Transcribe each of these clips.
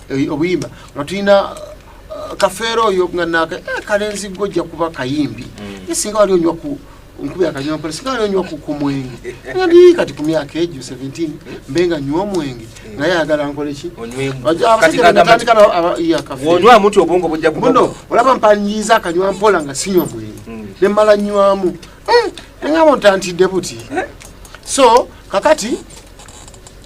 eh, obuyimba nga tulina uh, kafeero oyo nga naka eh, kalenzi gwe ojja kuba kayimbi mm. ye singa wali onywa ku nkubi akanywampala singa wali onywa ku mwenge ndi kati ku myaka egyo 17 mbe nga nywa omwenge mm. naye ayagala nkoleki olaba mpanyiiza akanywa mpola nga sinywa mwenge mm. ne mmala nywamu eh, engabo ntantidde buti so kakati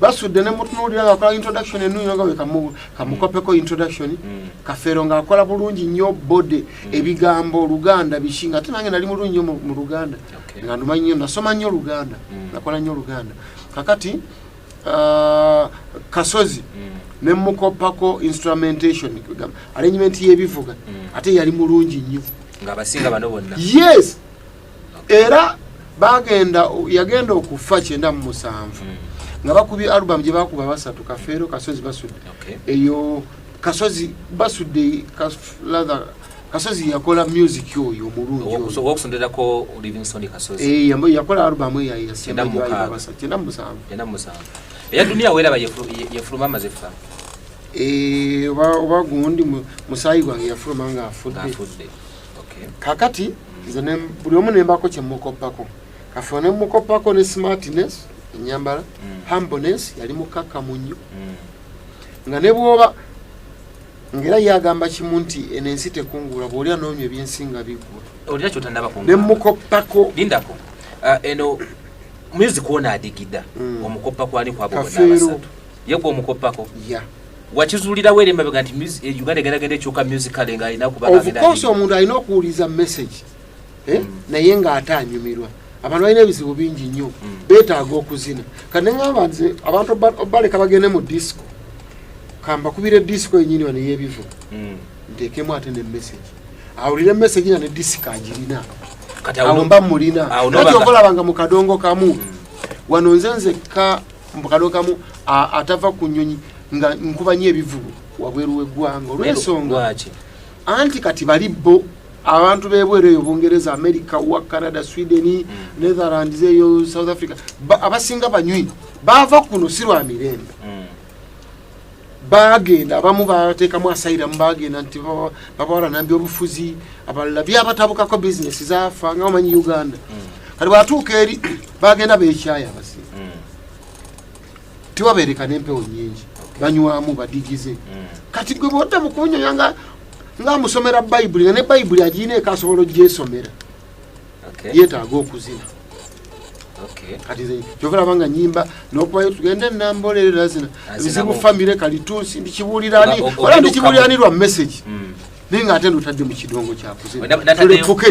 basudde nemutunuulira nga akola introduction enuyo nga wekamukopeko introduction mm. kafeero nga akola bulungi nnyo bode mm. ebigambo oluganda biki nga ate nange nali mulungi nyo mu luganda nga numanyi nyo nasoma nnyo oluganda mm. nakola nnyo oluganda kakati uh, kasozi nemukopako instrumentation arrangement yebivuga ate yali mulungi nnyo yes era bagenda yagenda okufa kyenda mu musanvu hmm. nga bakubye album gye bakuba basatu kafeero kasozi basudde eyo kasozi basudde kasozi yakola music oyo omulungiyakola eh, album eyakyenda eh, oba gundi musayi gwange yafuluma nga afudde kakati nze buli omu nembako kyemukoppako kafe nemukoppako ne smartness enyambala mm. humbleness yali mukakkamu nnyo mm. nga ne bwoba ngaera yagamba kimu nti eno ensi tekungula bwoli anoonya ebyensi nga biggwa olina kyotanabako nemukoppako lindako uh, eno muyuzi kuona adigida mm. omukoppa kwani kwabo bona abasatu yegwe omukoppako ya wakizulirawo eri emabega nti eh, uganda egeragenda ekyoka musicale nga alina kubaofcourse omuntu alina okuwuliza message eh? mm. naye nga ate anyumirwa abantu balina ebizibu bingi nnyo mm. betaaga okuzina kaneamba nze abantu obaleka bagende mu disco kambakubira edisco yenyini wa neyebivu mm. ntekemu ate ne message awulire message na ne disco agirina awo mba mulina nati okolabanga mu kadongo kamu wano nze nzekka mbu kano kamu atava ku nyonyi nga nkuba nyo ebivubu wabweru wegwanga olwensonga anti kati bali bo abantu bebweru eyo bungereza america wa canada sweden mm. netherlands eyo south africa abasinga banywi bava kuno sirwa mirembe mm. bagenda abamu bateekamu asairamu bagenda nti babawala nambi obufuzi abalala byabatabukako bizinesi zafa nga omanyi uganda mm. kati bwatuuka eri bagenda bekyaya abasi mm. tiwabeereka nempewo nyingi banywamu badigize mm. kati gwe bwodda mukunyoya nga nga amusomera bayibuli nga ne bayibuli agiina eka asobola ogyesomera yetaaga okuzina kati nze kyova laba nga nyimba nokubayo tugende nambolerera zina ebizibu famire kalitunsi ndikibuulirani ola ndikibuulirani lwa message hmm. naye nga ate ndotadde mu kidongo kyakuzina tulefuke